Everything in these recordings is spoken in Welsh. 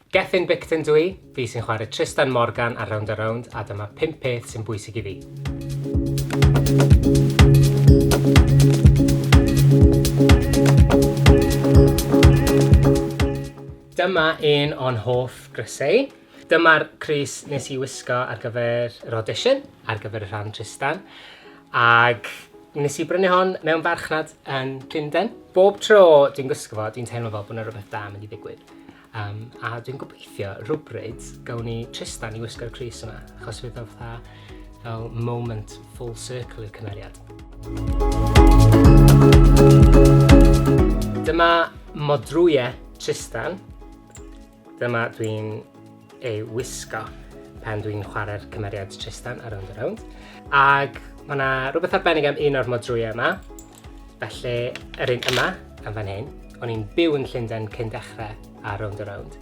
Gethin Bicton dw i, fi sy'n chwarae Tristan Morgan ar Rownd a Rownd a dyma 5 peth sy'n bwysig i fi. Dyma un o'n hoff grysau. Dyma'r crys nes i wisgo ar gyfer yr audition, ar gyfer y rhan Tristan. Ac nes i brynu hon mewn farchnad yn Llundain. Bob tro dwi'n gwisgo fo, dwi'n teimlo fel bod yna rhywbeth da yn mynd i ddigwydd. Um, a dwi'n gobeithio rhywbryd gawn ni Tristan i wisgo'r Cris yma, achos fydd o'n fatha fel moment full circle i'r cymeriad. Dyma modrwyau Tristan. Dyma dwi'n ei wisgo pan dwi'n chwarae'r cymeriad Tristan ar Rownd a Rownd. Ac mae yna rhywbeth arbennig am un o'r modrwyau yma. Felly, yr un yma, am fan hyn. O'n i'n byw yn Llundain cyn dechrau ar Rownd a Rownd.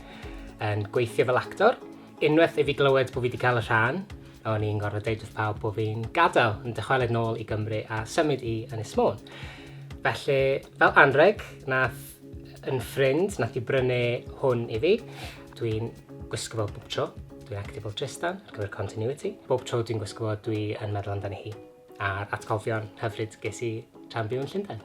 Yn gweithio fel actor, unwaith i fi glywed bod fi wedi cael y rhan, o'n i'n gorfod deud wrth pawb bod fi'n gadael yn dychwelyd nôl i Gymru a symud i Ynys Môn. Felly, fel anreg, nath yn ffrind nath i brynu hwn i fi. Dwi'n gwisgo fo bob tro. Dwi'n active fel Tristan ar gyfer continuity. Bob tro dwi'n gwisgo fo dwi yn meddwl amdani hi a'r atgofion hyfryd ges i tra'n byw yn Llundain.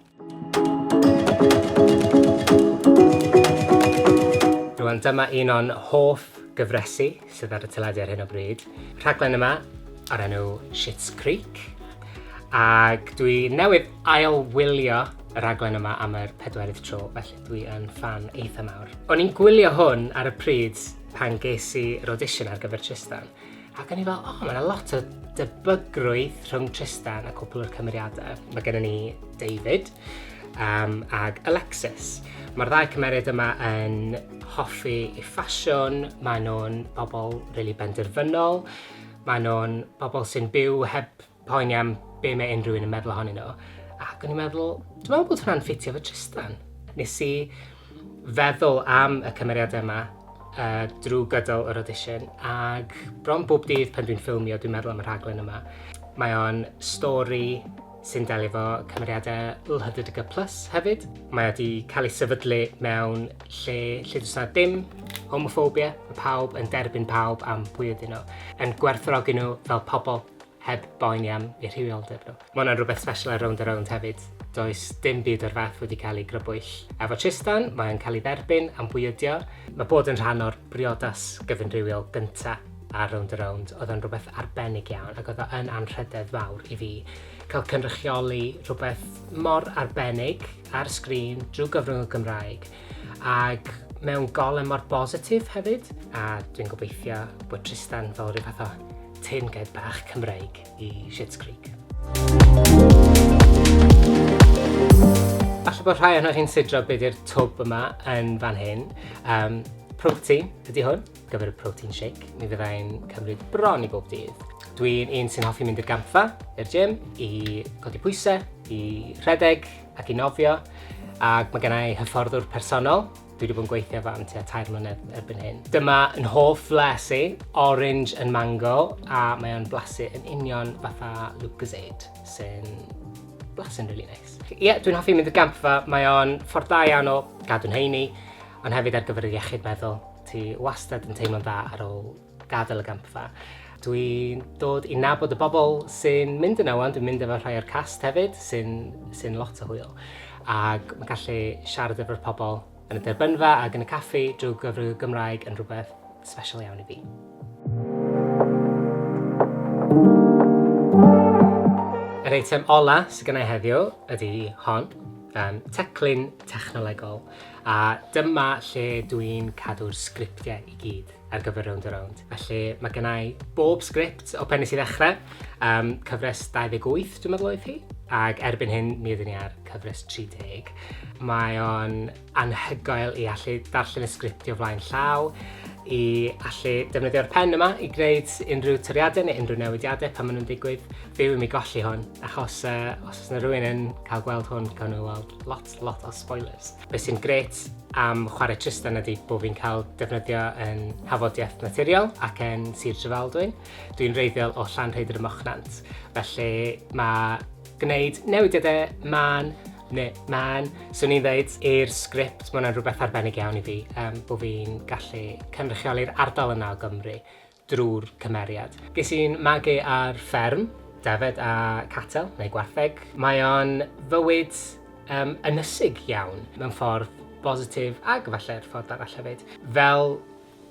Rwan dyma un o'n hoff gyfresi. sydd ar y teledu ar hyn o bryd. Rhaglen yma ar enw Shit's Creek. Ac dwi newydd ail wylio y rhaglen yma am yr pedwerydd tro, felly dwi yn fan eitha mawr. O'n i'n gwylio hwn ar y pryd pan ges i yr audition ar gyfer Tristan, ac o'n i fel, o, oh, mae'n lot o debygrwydd rhwng Tristan a cwpl o'r cymeriadau. Mae gennym ni David, um, ag Alexis. Mae'r ddau cymeriad yma yn hoffi i ffasiwn, maen nhw'n bobl rili really benderfynol, maen nhw'n bobl sy'n byw heb poeni am be mae unrhyw un yn meddwl ohonyn nhw. Ac o'n i'n meddwl, dwi'n meddwl bod hwnna'n ffitio fy Tristan. Nes i feddwl am y cymeriad yma uh, drwy gydol yr audition ac bron bob dydd pan dwi'n ffilmio dwi'n meddwl am y rhaglen yma. Mae o'n stori sy'n delio efo cymeriadau LHDTC Plus hefyd. Mae wedi cael ei sefydlu mewn lle lle does dim homophobia, mae pawb yn derbyn pawb am pwy ydyn nhw, yn gwerthorogi nhw fel pobl heb boeni am eu rhywioldeb nhw. Mae hwnna'n rhywbeth special ar Rownd a Rownd hefyd. Does dim byd o'r fath wedi cael ei grybwyll. Efo Tristan, mae'n cael ei dderbyn am bwy ydio. Mae bod yn rhan o'r briodas gyfynrhywiol gyntaf. a Rownd a Rownd oedd yn rhywbeth arbennig iawn ac oedd o yn anrhydedd fawr i fi cael cynrychioli rhywbeth mor arbennig ar sgrin drwy gyfrwng y Gymraeg ac mewn golau mor bositif hefyd a dwi'n gobeithio bod Tristan fel rhyw fath o tin gaib bach Cymreig i Schitt's Creek. Falle bod rhai ohonoch chi'n sidro beth yw'r twb yma yn fan hyn. Um, Prwf ti ydy hwn. gyfer y protein shake. Mi fydda i'n cymryd bron i bob dydd. Dwi'n un sy'n hoffi mynd i'r gampfa, i'r gym, i godi pwysau, i rhedeg ac i nofio. Ac mae gennau hyfforddwr personol, dwi wedi bod yn gweithio fan tua tair mlynedd erbyn hyn. Dyma yn hoff fles i, orange and mango, a mae o'n blasu yn union fatha Lucozade, sy'n blasu'n really nice. Ie, yeah, dwi'n hoffi mynd i'r gampfa, mae o'n ffordd da iawn o gadw'n heini, ond hefyd ar gyfer y iechyd meddwl. Ti wastad yn teimlo'n dda ar ôl gadael y gampfa. Dwi'n dod i nabod y bobl sy'n mynd yna wan, dwi'n mynd efo rhai o'r cast hefyd, sy'n sy lot o hwyl. Ac mae'n gallu siarad efo'r pobl yn y derbynfa ac yn y caffi drwy gyfrwng y Gymraeg yn rhywbeth special iawn i fi. Yr eitem ola sydd gennau heddiw ydy hon, um, teclyn technolegol. A dyma lle dw i'n cadw'r sgriptiau i gyd ar gyfer Rownd a Rownd. Felly, mae gynna i bob sgript o Pennes i Ddechrau, um, cyfres 28 dwi'n meddwl oedd hi, ac erbyn hyn mi ydyn ni ar cyfres 30. Mae o'n anhygoel i allu darllen y sgript o flaen llaw, i allu defnyddio'r pen yma i gwneud unrhyw toriadau neu unrhyw newidiadau pan maen nhw'n digwydd. Byw i mi golli hwn, achos uh, os yna rhywun yn cael gweld hwn, gan nhw weld lot lot o spoilers. Be sy'n gret am chwarae Tristan ydy bod fi'n cael defnyddio yn hafodiaeth naturiol ac yn Sir Drefaldwyn. Dwi'n reiddiol o Llan Rhaeadr y Mochnant, felly mae gwneud newidiadau man neu man, swn i'n dweud, i'r sgript, mae hwnna'n rhywbeth arbennig iawn i fi, um, bod fi'n gallu cynrychioli'r ardal yna o Gymru. drwy'r cymeriad. Ges i'n magu ar fferm, defaid a catel, neu gwartheg. Mae o'n fywyd yym ynysig iawn, mewn ffordd bositif ac efallai'r ffordd arall hefyd. Fel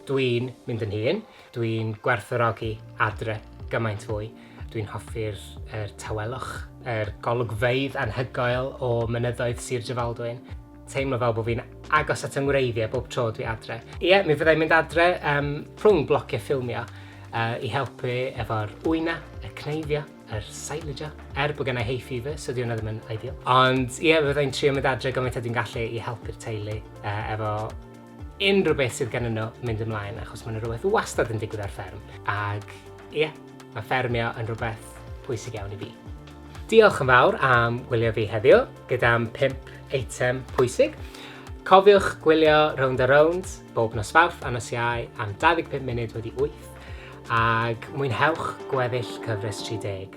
dwi'n mynd yn hŷn, dwi'n gwerthfawrogi adre gymaint fwy. Dwi'n hoffi'r yr tawelwch, yr golygfeydd anhygoel o mynyddoedd Sir Drefaldwyn. teimlo fel bod fi'n agos at 'y ngwreiddiau bob tro dwi adre. Ie, yeah, mi fyddai'n mynd adre um, rhwng blociau ffilmio uh, i helpu efo'r wyna, y cneifio, yr er silage, er bod gennau hay fever, so diwna ddim yn ideal. Ond ie, yeah, fyddai'n trio mynd adre gymaint a dwi'n gallu i helpu'r teulu uh, efo unrhyw beth sydd gen nhw mynd ymlaen achos mae yna rhywbeth wastad yn digwydd ar fferm ac ie, yeah, mae ffermio yn rhywbeth pwysig iawn i fi. Diolch yn fawr am gwylio fi heddiw gyda'n 5 eitem pwysig. Cofiwch gwylio Round a Round bob nos Fawrth a nos Iau am 25 munud wedi 8 ac mwynhewch gweddill cyfres 30.